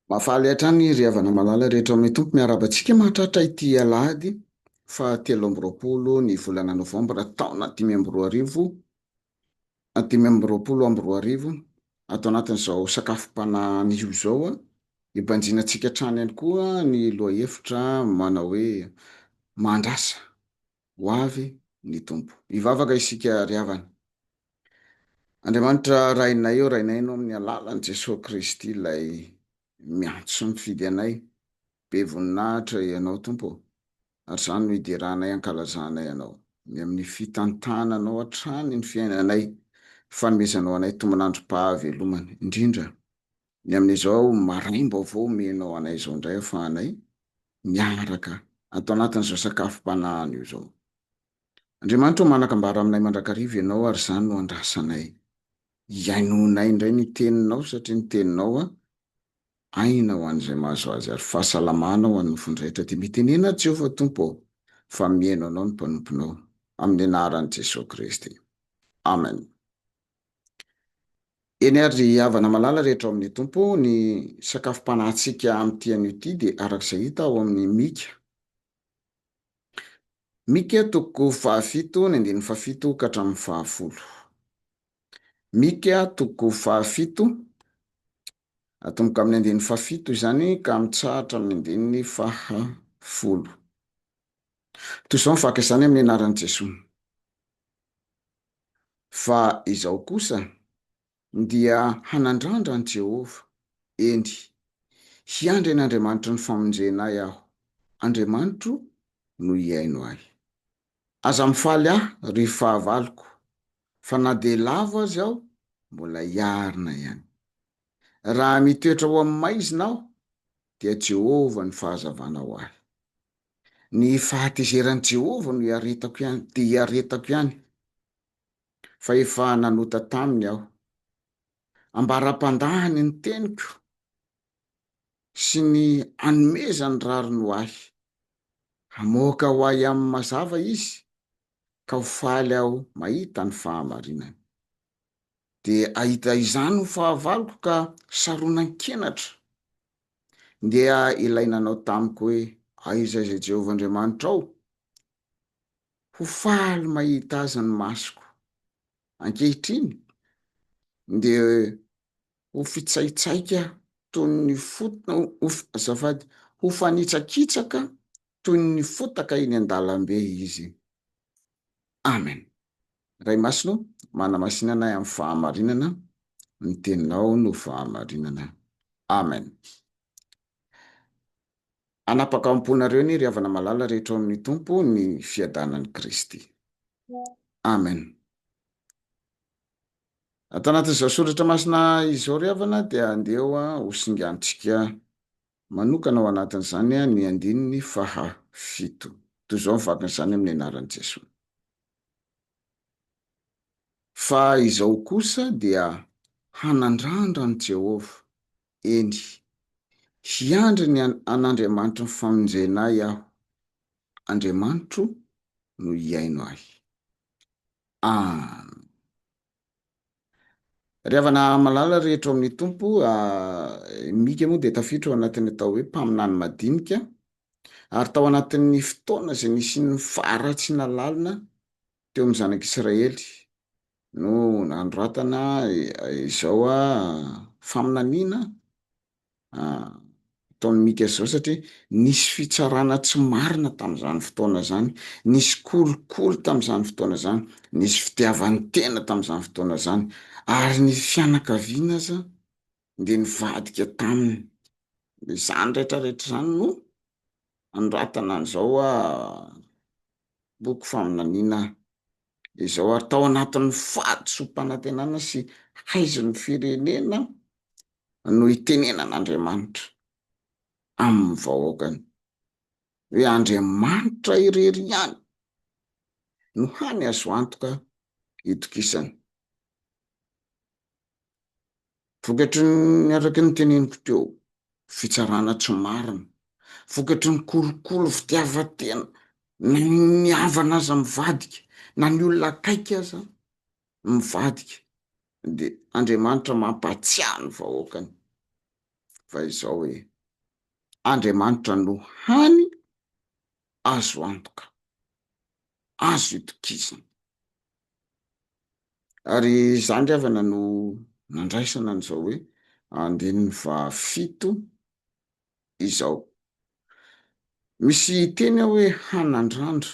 Mahafaly hatrany ry havana malala rehetra ao amin'ny Tompo. Miarahaba antsika mahatratra ity alahady fahatelo amby roapolo ny volana novambra taona dimy amby roa arivo, dimy amby roapolo amby roa arivo, ato anatin'izao sakafom-panahy anio izao. Ibanjina antsika hatrany ihany koa ny lohahevitra manao hoe, Mandrasa. ho avy ny Tompo. Hivavaka isika ry havana. Andriamanitra Rainay ô, Rainay Anao amin'ny alalan'i Jesoa Kristy ilay miantso mifidy anay, be voninahitra Ianao Tompo ô, ary izany no hideranay hankalazanay Anao, ny amin'ny fitantananao hatrany ny fiainanay, fanomezanao anay tombon'androm-pahavelomana, indrindra Ny amin'izao maraim-baovao omenao anay izao indray ahafahanay miaraka ato anatin'izao sakafom-panahiny io izao. Andriamanitra ô, manan-kambara aminay mandrakariva Ianao ary izany no andrasanay. Iainoanay indray ny Teninao satria ny Teninao aina ho an'izay mahazo azy ary fahasalamana ho an'ny nofony rehetra. Dia mitenena Jehovah Tompo ô, fa mihaino anao ny mpanomponao. Amin'ny anaran'i Jesoa Kristy. Amen. Eny ary ry havana malala rehetra ao amin'ny Tompo, ny sakafom-panahintsika amin'ity anio ity dia araka izay hita ao amin'ny Mika. Mika toko fahafito ny andininy fahafito ka hatramin'ny fahafolo. Mika toko fahafito, atomboka amin'ny andininy fahafito izany ka mitsahatra amin'ny andininy fahafolo. Toy izao ny fakasany amin'ny anaran'i Jesoa. Fa izaho kosa dia hanandrandra an'i Jehovah, eny, hiandry an'Andriamanitry ny famonjena ahy aho, Andriamanitro no hihaino ahy. Aza mifaly ahy, ry fahavaloko, fa na dia lavo aza aho, mbola hiarina ihany. Raha mitoetra ho amin'ny maizina aho, dia Jehovah ny fahazavana ho ahy. Ny fahatezeran'i Jehovah no iaretako ihany, dia iaretako ihany, fa efa nanota taminy aho. Ambara am-pandahany ny teniko sy ny anomezany rariny ho ahy. Hamoaka ho ahy amin'ny mazava izy, ka ho faly aho mahita ny fahamarinany. dia ahita izany ho fahavaloko ka saronan-kenatra. Ndeha ilay nanao tamiko hoe, Aiza izay Jehovah Andriamanitrao? Ho faly mahita azy ny masoko. Ankehitriny, ndeha ho fitsaitsaika toy ny fotona, ho, azafady, ho fanitsakitsaka toy ny fotaka eny an-dalambe izy. Amen. Ray Masina o, manamasinana ahy amin'ny fahamarinana, ny Teninao no fahamarinana. Amen. Hanapaka am-ponareo anie ry havana malala rehetra ao amin'ny Tompo ny fiadanan'i Kristy. Amen. Ato anatin'izao soratra masina izao ry havana dia andeha ho singantsika. Manokana ao anatin'izany ny andininy faha fito. Toy izao ny vakin'izany amin'ny anaran'i Jesoa. Fa izao kosa dia hanandrandra an'i Jehovah, eny, hiandry ny an'Andriamanitry ny famonjena ahy aho, Andriamanitro no hihaino ahy. Amen. Ry havana malala rehetra ao amin'ny Tompo, i Mika moa dia tafiditra ao anatin'ny atao hoe mpaminany madinika, ary tao anatin'ny fotoana izay nisian'ny faharatsiana lalina teo amin'ny zanak'Israely no nanoratana izao faminaniana, ataon'i Mika izao satria nisy fitsarana tsy marina tamin'izany fotoana izany, nisy kolikoly tamin'izany fotoana izany, nisy fitiavan-tena tamin'izany fotoana izany, ary ny fianakaviana aza dia nivadika taminy. Dia izany rehetrarehetra izany no anoratana an'izao boky faminaniana izao, ary tao anatin'ny fahadisoam-panantenana sy haizon'ny firenena no itenenan'Andriamanitra amin'ny vahoakany hoe Andriamanitra irery ihany no hany azo antoka hitokisana. Vokatry ny araka ny teneniko teo, fitsarana tsy marina, vokatry ny kolikoly fitiavan-tena, na ny havana aza mivadika, na ny olona akaiky aza mivadika, Dia Andriamanitra mampahatsiahy ny vahoakany fa izao hoe, Andriamanitra no hany azo antoka, azo itokisana. Ary izany ry havana no nandraisana an'izao hoe andininy fahafito izao. Misy teny ao hoe hanandrandra.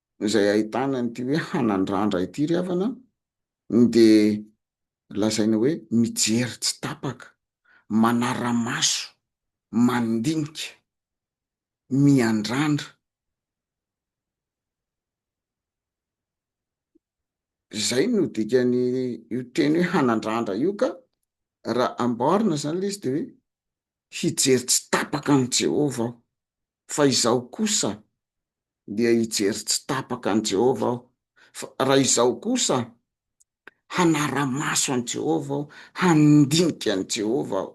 izay ahitana an'ity hoe hanandrandra ity ry havana an, dia lazaina hoe mijery tsy tapaka, manara-maso, mandinika, miandrandra. Izay no dikan'io teny hoe hanandrandra io ka, raha amboarina izany ilay izy dia hoe hijery tsy tapaka an'i Jehovah aho. Fa izaho kosa dia hijery tsy tapaka an'i Jehovah aho, fa raha izaho kosa hanara-maso an'i Jehovah aho, handinika an'i Jehovah aho.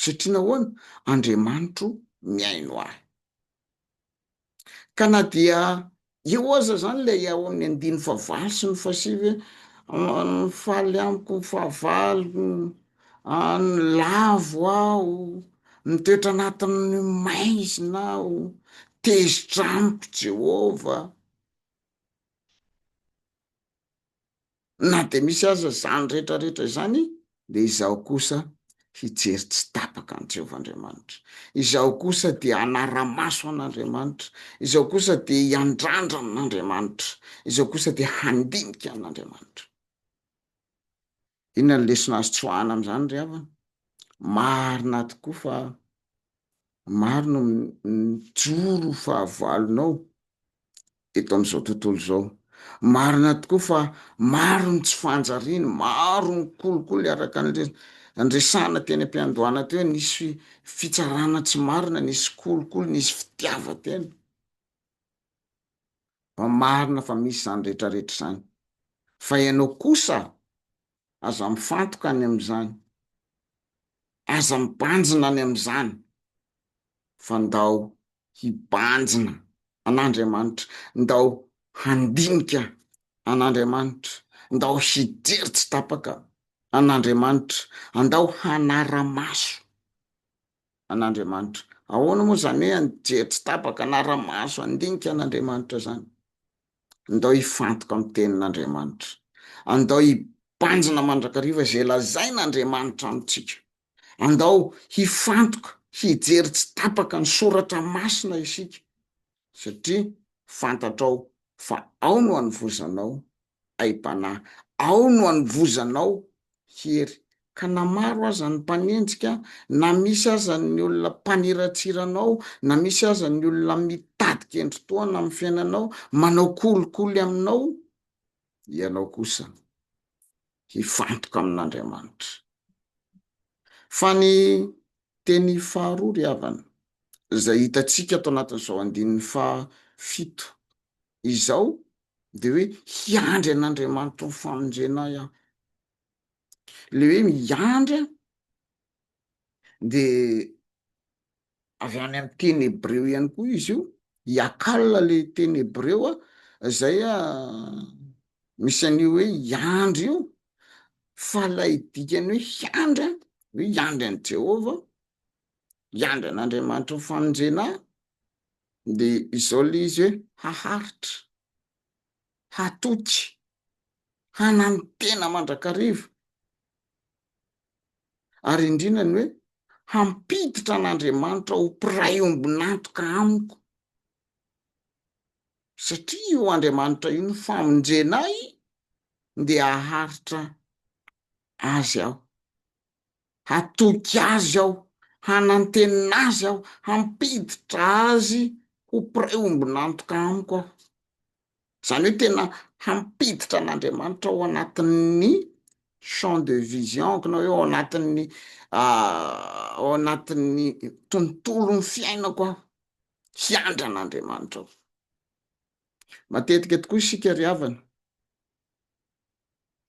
Satria nahoana? Andriamanitro mihaino ahy. Ka na dia Eo aza zany ilay ao amin'ny andininy fahavalo sy ny fahasivy hoe mifaly amiko ny fahavaloko, lavo aho, mitoetra anatin'ny maizina aho, tezitra amiko Jehovah. Na dia misy aza izany rehetra rehetra izany, dia izaho kosa hijery tsy tapaka an'i Jehovah Andriamanitra. Izaho kosa dia hanara-maso an'Andriamanitra. Izaho kosa dia hiandrandra an'Andriamanitra. Izaho kosa dia handinika an'Andriamanitra. Inona no lesona azo tsoahana amin'izany ry havana? Marina tokoa fa maro no mijoro fahavalonao eto amin'izao tontolo izao. Marina tokoa fa maro ny tsy fanjariana, maro ny kolikoly araka ny le niresahana teny am-piandohana teo, nisy fitsarana tsy marina, nisy kolikoly, nisy fitiavan-tena. fa marina fa misy izany rehetra rehetra izany, fa ianao kosa aza mifantoka any amin'izany, aza mibanjina any amin'izany, fa ndao hibanjina an'Andriamanitra, ndao handinika an'Andriamanitra, ndao hijery tsy tapaka an'Andriamanitra, andao hanara-maso. an'Andriamanitra. Ahoana moa izany hoe anjery tsy tapaka na ara-maso handinika an'Andriamanitra izany? Andao hifantoka amin'ny Tenin'Andriamanitra. Andao hibanjina mandrakariva izay lazain'Andriamanitra amintsika. Andao hifantoka, hijery tsy tapaka ny soratra masina isika, satria fantatrao fa ao no anovozanao aim-panahy. Ao no anovozanao hery. Ka na maro aza ny mpanenjika, na misy aza ny olona mpaniratsira anao, na misy aza ny olona mitady kendri-tohana amin'ny fiainanao, manao kolikoly aminao, ianao kosa hifantoka amin'Andriamanitra. Fa ny teny faharoa ry havana, izay hitantsika ato anatin'izao andininy fahafito izao dia hoe hiandry an'Andriamanitra ho famonjena ahy aho. Ilay hoe miandry dia avy any amin'ny teny hebreo ihany koa izy io, hiakala ilay teny hebreo a, izay a misy an'io hoe hiandry io, fa ilay dikany hoe hiandry hoe hiandry an'i Jehovah hiandry an'Andriamanitra ho famonjena ahy, dia izao ilay izy hoe, haharitra, hatoky, hananontena mandrakariva, ary indrindra ny hoe, hampiditra an'Andriamanitra ho mpiray ombon'antoka amiko, satria io Andriamanitra io no famonjena ahy, dia haharitra Azy aho. hatoky azy aho, hanantena azy aho, hampiditra azy ho mpiray ombon'antoka amiko aho. Izany hoe tena hampiditra an'Andriamanitra ao anatin'ny champ de vision-ko na hoe ao anatin'ny ao anatin'ny tontolon'ny fiainako aho, hiandry an'Andriamanitra aho. Matetika tokoa isika ry havana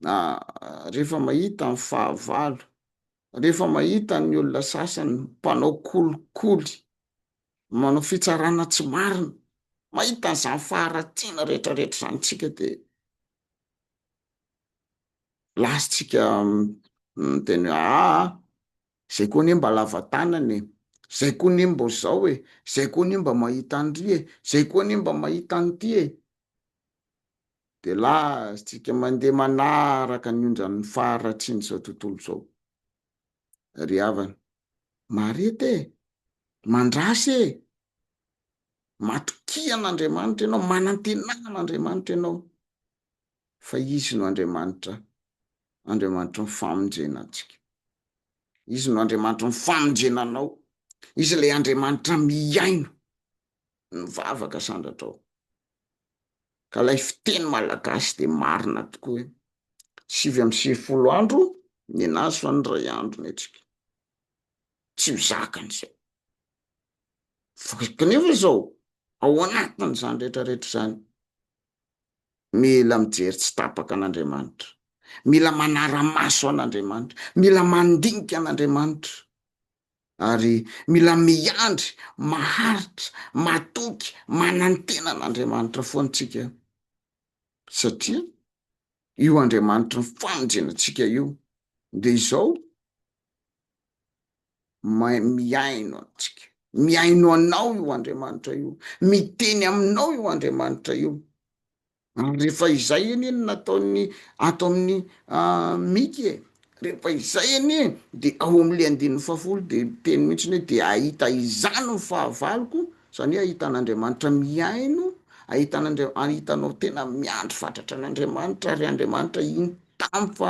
na rehefa mahita ny fahavalo, rehefa mahita ny olona sasany mpanao kolikoly, manao fitsarana tsy marina, mahita an'izany faharatsiana rehetrarehetra izany isika dia lazatsika miteny hoe aa, izay koa anie mba lava tanana e, izay koa anie mba izao e, izay koa anie mba mahita an'ry e, izay koa anie mba mahita an'ity e. dia lazatsika mandeha manaraka ny onjan'ny faharatsian'izao tontolo izao. Ry havana, mareta e! Mandrasa e! Matokia an'Andriamanitra ianao, manantenà an'Andriamanitra ianao, fa Izy no Andriamanitra, Andriamanitry ny famonjena antsika. Izy no Andriamanitry ny famonjena anao. Izy ilay Andriamanitra mihaino. ny vavaka sandratrao ka lay fiteny malagasy de marina tokoa hoe sivy amby sivifolo andro ny anazy fa ny ray andro ny antsika tsy ho zakan'izay fa kanefa izao ao anatin'izany rehetra rehetra izany mila mijery tsy tapaka an'andriamanitra mila manara-maso an'andriamanitra mila mandinika an'andriamanitra Ary mila miandry, maharitra, matoky, manantena an'Andriamanitra foana tsika, satria io Andriamanitry ny famonjena antsika io dia izao mihaino antsika, mihaino anao io Andriamanitra io, miteny aminao io Andriamanitra io, Ary rehefa izay anie no nataon'ny ato amin'ny Miky e, rehefa izay anie de ao amin'le andininy fahafolo de miteny mihitsy hoe de ahita izany ny fahavaloko, zany hoe ahita an'Andriamanitra mihaino, ahita an'Andria- ahitanao tena miandry fatratra an'Andriamanitra ary Andriamanitra in- tamy fa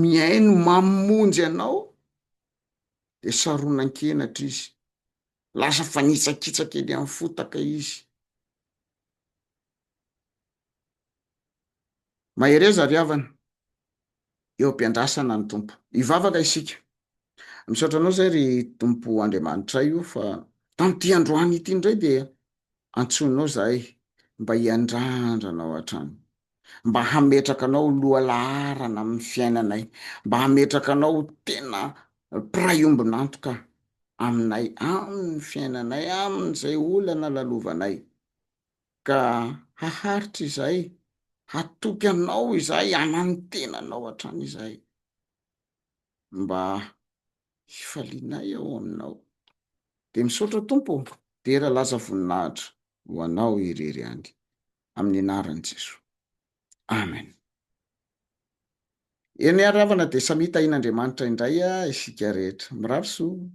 mihaino mamonjy anao de saronan-kenatra izy, lasa fanitsakitsaka eny amin'ny fotaka izy. Mahereza ry havana eo am-piandrasana ny Tompo. Hivavaka isika. Misaotra anao izay ry Tompo Andriamanitray o fa tamin'ity androany ity indray dia antsoinao izahay mba hiandrandra anao hatrany. Mba hametraka anao ho lohalaharana amin'ny fiainanay. Mba hametraka anao ho tena mpiray ombon'antoka aminay amin'ny fiainanay, amin'izay olana lalovanay. Ka haharitra izay, hatoky Anao izahay hanantena Anao hatrany izahay, mba hifalianay ao Aminao. Dia misaotra Tompo ô, dera lasa voninahitra ho Anao irery ihany, amin'ny anaran'i Jesoa. Amen. Eny ry havana dia samia tahian'Andriamanitra indray isika rehetra. Mirary soa.